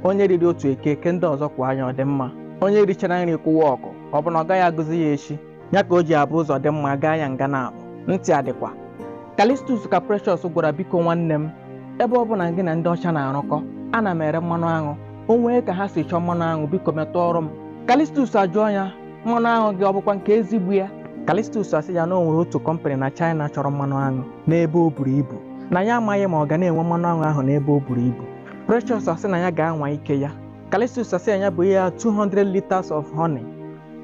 onye riri otu eke eke ndị ọzọ kwaa nya ọ dị mma onye richara nri kụwaa ọkụ ọ bụ na ọ gaghị agụzi ya echi ya ka o ji abụ ụzọ dị mma a gaa ya nga naabọ ntị adịkwa Callistus ka Precious gwara biko nwanne m ebe ọ bụ na gị na ndị ọcha na-arụkọ ana m ere mmanụ aṅụ o nwee ka ha si chọọ mmanụ aṅụ biko metụọrụ m Callistus ajụọ ya mmanụ aṅụ gị ọ bụkwa nke ezigbo ya Callistus asị ya na o nwere otu company na China chọrọ mmanụ aṅụ n'ebe o buru ibu na ya amaghị ma ọ ga na-enwe mmanụ aṅụ ahụ n'ebe o buru ibu Precious asị na ya ga-anwa ike ya Callistus asị na ya bụ ihe ya 200 liters of honey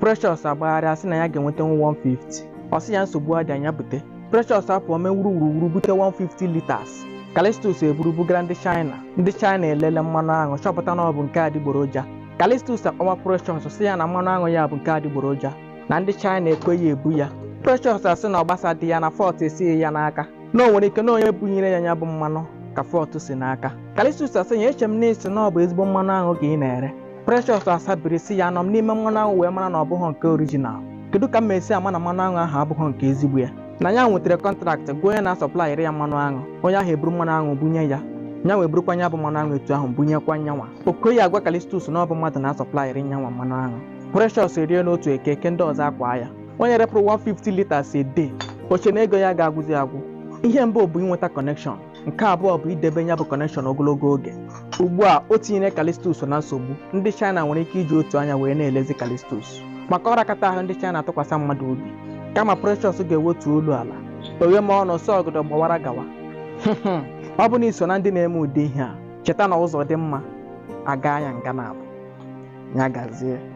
Precious agbagharịa asị na ya ga-enweta 150 ọ sị ya nsogbu adịa nya bute Precious apụọ mee wuruwuruwuru bute 150 liters Callistus eburu bugara ndị China ndị China elele mmanụ aṅụ chọpụta na ọ bụ nke adịgboroja Callistus akpọwa Precious sị ya na mmanụ aṅụ ya bụ nke adịgboroja na ndị China ekweghị ebu ya Precious asị na ọ gbasadịghị ya na fault esighị ya n'aka na o nwere ike na onye bunyere ya ya bụ mmanụ ka fault si n'aka callistus asị ya eche m na ị sị na ọ bụ ezigbo mmanụ aṅụ ka ị na-ere precious asabiri sị ya anọ m n'ime mmanụ aṅụ wee mara na ọ bụghị nke original kedu ka m esi ama na mmanụ aṅụ ahụ abụghị nke ezigbo ya na ya nwetara contract gwa onye na-asọplayere ya mmanụ aṅụ onye ahụ eburu mmanụ aṅụ bunye ya ya wee burukwa ya bụ mmanụ aṅụ etu ahụ bunyekwa nyanwa o kweghị agwa callistus na ọ bụ mmadụ na-asọplayere nyanwa mmanụ aṅụ precious erie n'otu eke eke ndị ọzọ akwa ya onye repụrụ 150 liters a day o che na ego ya ga-agwụzi agwụ ihe mbụ bụ inweta connection nke abụọ bụ idebe ya bụ connection ogologo oge ugbu a o tinyere callistus na nsogbu ndị china nwere ike iji otu anya wee na-elezi callistus maka ọ rakata ahụ ndị china atụkwasị mmadụ obi kama precious ga-ewetu olu ala oghe ma ọnụ sọ ọgọdọ gbawara gawa ọ bụ na i so na ndị na-eme ụdị ihe a cheta na ụzọ dị mma a gaa ya nga naabọ ya gazie